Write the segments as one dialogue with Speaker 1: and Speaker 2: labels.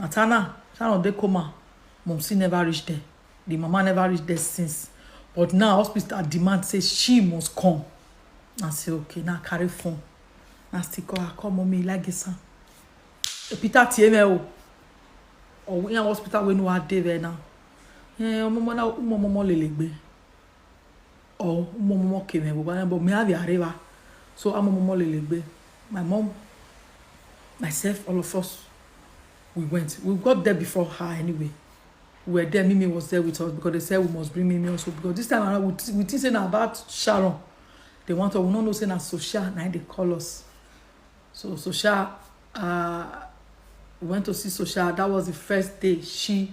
Speaker 1: Matana, Sharon dey coma, Momsi never reach there. The mama never reach there since. But now hospital demand say she must come. I say okay, now carry phone. Now still call her, call mommy Ilagisa. Peter Tieme o. Or we hospital we know how dey there now. Eh, omo mo na umo mo mo lele gbe. or mo mo ke me baba but me have areva so amo mo lele gbe my mom myself all of us we went we got there before her anyway we were there mimi was there with us because they said we must bring mimi also because this time around we, th we think say na about sharon they want us we no know say na social na they call us so social uh, we went to see social that was the first day she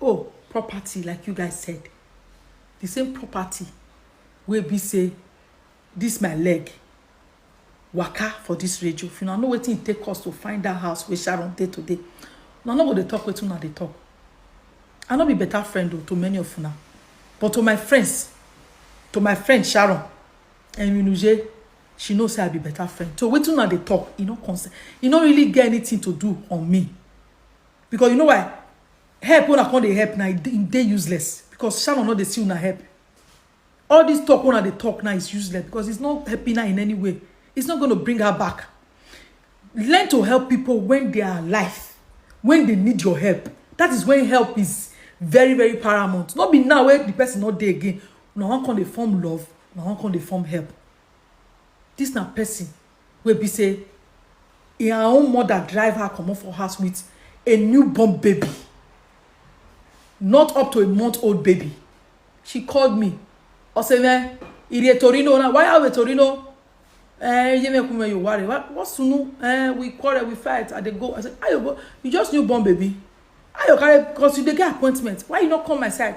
Speaker 1: oh property like you guys said the same property wey be say this my leg waka for this radio if una know wetin e take us to find that house wey sharon dey today una no go dey talk wetin una dey talk i no be better friend o to many of una but to my friends to my friend sharon enyinuje she know say i be better friend so wetin una dey talk e no concern e no really get anything to do on me because you know why help una come dey help na e dey- e dey useless because sharon no dey see una help all this talk una dey talk now is useless because it's not helping her in any way it's not gonna bring her back learn to help people when they are alive when they need your help that is when help is very very paramount no be now wey the person no dey again una wan come dey form love una wan come dey form help this na person wey be say her own mother drive her comot for house with a newborn baby, not up to a month old baby. She called me. I said, man, it is Torino now. Why are we Torino? Eh, you make me you worry. What, what sunu? Eh, we quarrel, we fight, and they go. I said, Ayo, you just newborn baby. Ayo, carry, because you dey get appointment. Why you not come my side?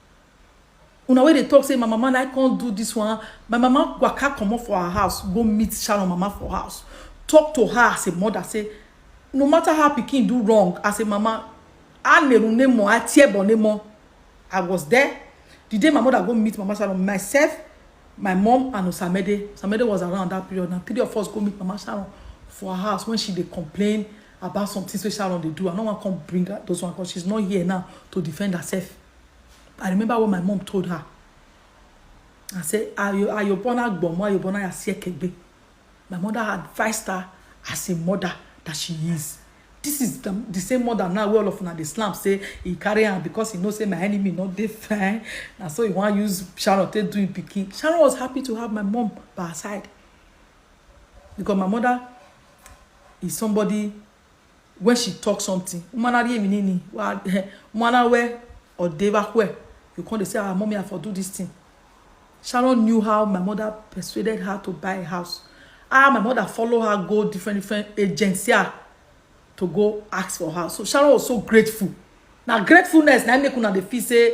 Speaker 1: una wey dey talk say my mama na come do this one my mama waka comot for her house go meet sharon mama for house talk to her as a mother say no matter how pikin do wrong as a mama a neru nemo a tiebo nemo i was there the day my mother go meet mama sharon myself my mom and osamede osamede was around that period na three of us go meet mama sharon for her house when she dey complain about some things wey sharon dey do i no wan come bring her those one because she's not here now to defend herself I remember what my mom told her. I said, Ayobona Gbomo, Ayobona Yasiekegbe. My mother advised her as a mother that she is. This is the, the same mother now where all of una dey slam say he carry am because he know say my enemy not dey fine. And so he want use Sharon to do him picking. Sharon was happy to have my mom by her side. Because my mother is somebody when she talk something umana ri emi nini wa umana we odeva hue you come dey say ah mommy i for do this thing sharon knew how my mother persuaded her to buy a house ah my mother follow her go different different agency ah to go ask for house so sharon was so grateful na gratefulness na make una dey feel say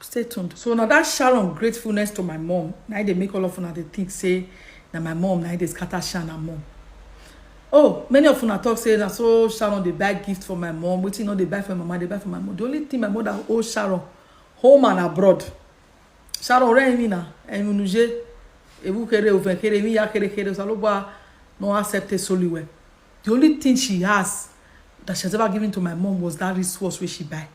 Speaker 1: Stay tuned. So now that Sharon gratefulness to my mom, now they make all of una they think say that my mom now they scatter Sharon and mom. Oh, many of una talk say na so Sharon they buy gift for my mom. Wetin no they buy for my mama, they buy for my mom. The only thing my mother owe Sharon, home and abroad. Sharon re mi na, emi nuje, ebu kere oven kere mi ya kere kere saloba no accept it solely well. The only thing she has that she has ever given to my mom was that wristwatch wey she buy.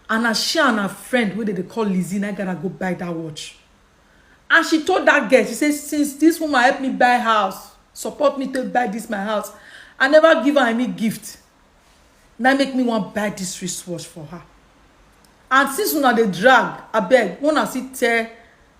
Speaker 1: and na she and her friend wey dem dey call Lizzy na gather go buy that watch and she told that girl she say since this woman help me buy house support me take buy this my house I never give her any gift na make me wan buy this wristwatch for her and since una dey drag abeg make una still tell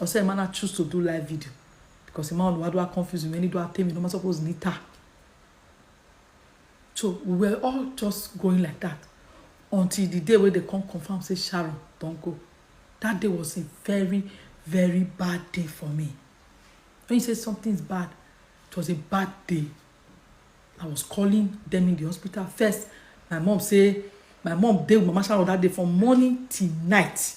Speaker 1: ọsẹ ẹ mana choose to do live video because ẹ máa ń wá dúrà confuse mi ẹni dúrà tèmi ló máa suppose ní ta so we were all just going like that until the day wey they come confirm say Sharon don go that day was a very very bad day for me when you say something is bad it was a bad day I was calling them in the hospital first my mom say my mom dey with mama sharon that day from morning till night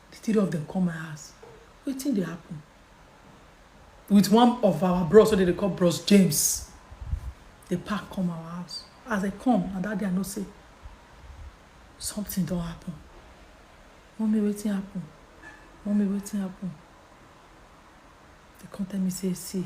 Speaker 1: The three of them come my house. Wetin dey happen? With one of our bros wey dem dey call bros James. They pack come our house. As they come, na that day I know say something don happen. Mommy, wetin happen? Mommy, wetin happen? They come tell me say, see,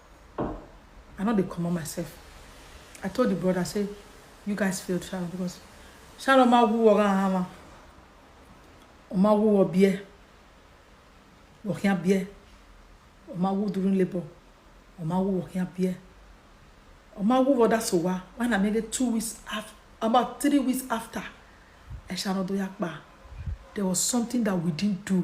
Speaker 1: I no dey comot myself. I told the brother say you guys failed Sharon because Sharon ma wu wọ ran hama. O ma wu wọ bie. Wọ kia bie. O ma wu during labor. O ma wu wọ kia bie. O ma wu wọ da so wa. Why na maybe two weeks after, about three weeks after, ẹ Sharon do ya pa. There was something that we didn't do.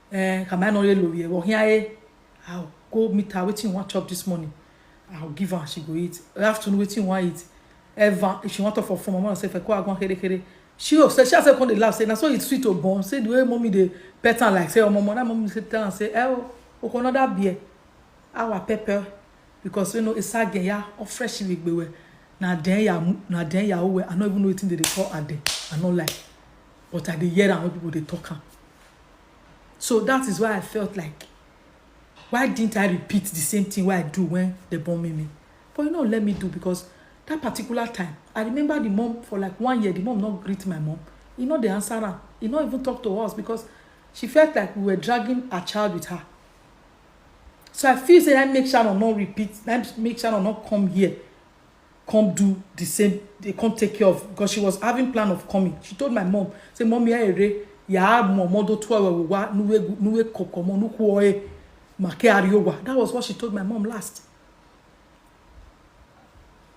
Speaker 1: eh ka mai no ye lori e wo hia e i'll go meet her wetin you wan chop this morning i'll give her she go eat afternoon wetin you wan eat ever if she wan talk for phone mama say feko agbon kere kere she o say she herself come dey laugh say na so it sweet o born say the way mommy dey pet am like say omo omo that mommy say tell am say eh o oko another beer awa pepper because you know isage ya o fresh rigbewe na den ya na den ya owe i no even know wetin dey dey call ade i no like but i dey hear am when people dey talk am So that is why I felt like, why didn't I repeat the same thing what I do when they born me? But you know, let me do because that particular time, I remember the mom for like one year, the mom not greet my mom. You know, the answer her. He not even talk to us because she felt like we were dragging a child with her. So I feel say I make Sharon not repeat, I make Sharon not come here come do the same they come take care of because she was having plan of coming she told my mom say mom ya ere ya mo mo do twa we wa nuwe nuwe kokomo nuku oe make ariowa that was what she told my mom last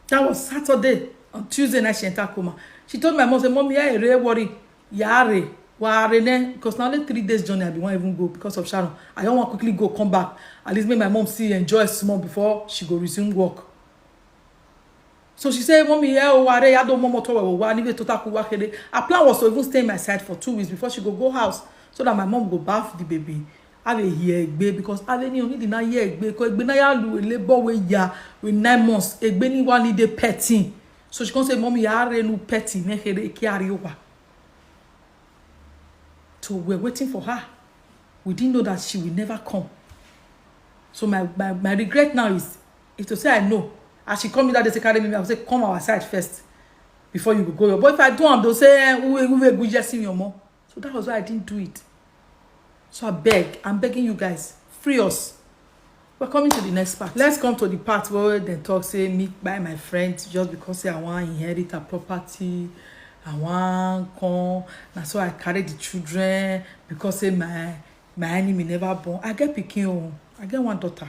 Speaker 1: that was saturday on tuesday night she enter coma she told my mom say mom ya ere worry ya are wa rene because na only three days journey i bin wan even go because of sharon i don wan quickly go come back at least make my mom still enjoy small before she go resume work So she said, Mommy, yeah, oh, are ya don't momo tower wa ni to taku wa kede. Her plan was to even stay in my side for two weeks before she go go house so that my mom go bath the baby. I will hear egbe because I will need to hear egbe because egbe na ya lu labor we ya with nine months. Egbe ni wa ni de petting. So she can say, Mommy, ya are nu petting ne kede ki are wa. So we're waiting for her. We didn't know that she will never come. So my, my, my regret now is if to say i know as she call me that day say carry me i go say come our side first before you go go your but if i do am they say eh uwe uwe go yes in your mom so that was why i didn't do it so i beg i'm begging you guys free us we're coming to the next part let's come to the part where they talk say me buy my friend just because say i want to inherit her property i want come na so i carry the children because say my my enemy never born i get picking. Oh, i get one daughter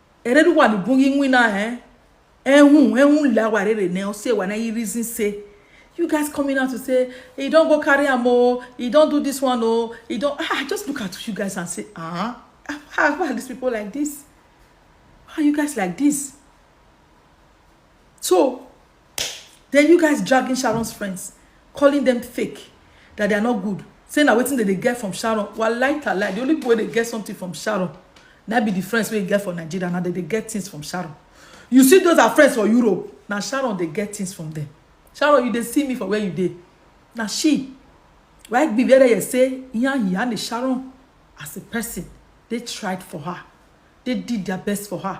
Speaker 1: ere ru wa ni bun yi win na eh ehun ehun la wa rere ne o se wa na yi reason say you guys coming out to say he don go carry am o he don do this one o he don ah just look at you guys and say ah how why are these people like this why are you guys like this so then you guys dragging sharon's friends calling them fake that they are not good say na wetin dem dey get from sharon walai talai the only people wey dey get something from sharon na be the friends wey get for nigeria na dem dey get things from sharon you see those are friends for europe na sharon dey get things from them sharon you dey see me for where you dey na she right be where you say yan yan the sharon as a person they tried for her they did their best for her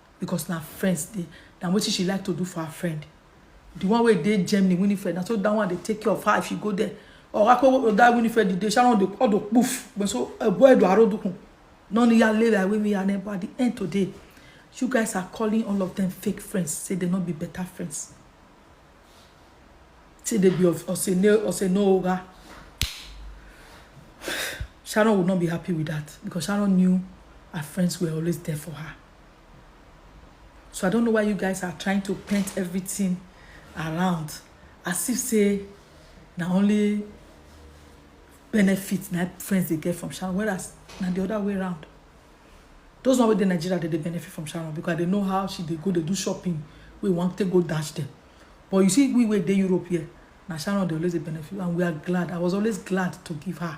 Speaker 1: because na friends dey na wetin she like to do for her friend the one wey dey Germany Winifred na so that one dey take care of her if she go there or akpo oh, that Winifred the day Sharon dey all the poof but so ebo eh, edo arodukun no ni ya lera wey me and at the end today you guys are calling all of them fake friends say they no be better friends say they be of osene osene oga Sharon would not be happy with that because Sharon knew her friends were always there for her. So I don't know why you guys are trying to paint everything around as if say na only benefit na friends dey get from Sharon whereas na the other way around. Those one wey dey Nigeria dey dey benefit from Sharon because they know how she dey go dey do shopping wey wan take go dash them. But you see we wey dey Europe here na Sharon dey always dey benefit and we are glad. I was always glad to give her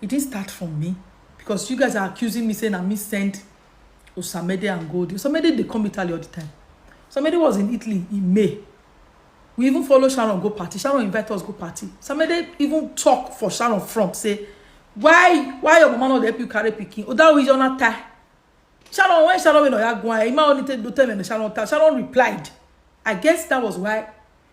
Speaker 1: e didn't start from me because you guys are accusing me saying na me send Osamede and Goldie. Osamede dey come Italy all the time. Osamede was in Italy in May. We even follow Sharon go party. Sharon invite us go party. Osamede even talk for Sharon front say why why your mama no dey help you carry pikin? Odawo is on tie. Sharon when Sharon wey no ya gwan, Emma only tell do tell me Sharon tie. Sharon replied. I guess that was why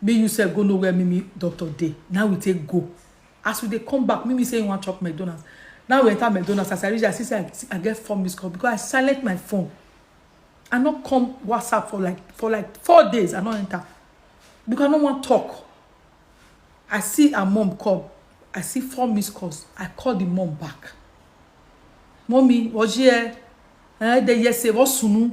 Speaker 1: Make you sef go know where Mimi doctor dey na we take go. As we dey come back, Mimi say he wan chop McDonald's. Now we enter McDonald's. As I reach there, I see say I, I get four missed call because I silent my phone. I no come WhatsApp for like for like four days. I no enter because I no wan talk. I see her mom call. I see four missed calls. I call the mom back. Mommy, was here? Eh, they yes, say what sunu?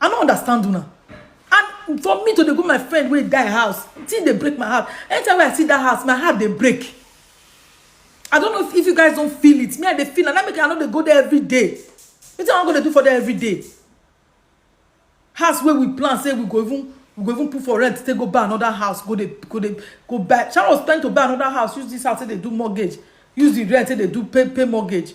Speaker 1: i no understand una and for me to dey go my friend wey die house thing dey break my heart anytime wey i see that house my heart dey break i don't know if you guys don't feel it me i dey feel and that make i no dey go there every day wetin i wan go dey do for there every day house wey we plan say we go even we go even put for rent take go buy another house go dey go dey go buy sharon was planning to buy another house use this house take dey do mortgage use the rent take dey do pay pay mortgage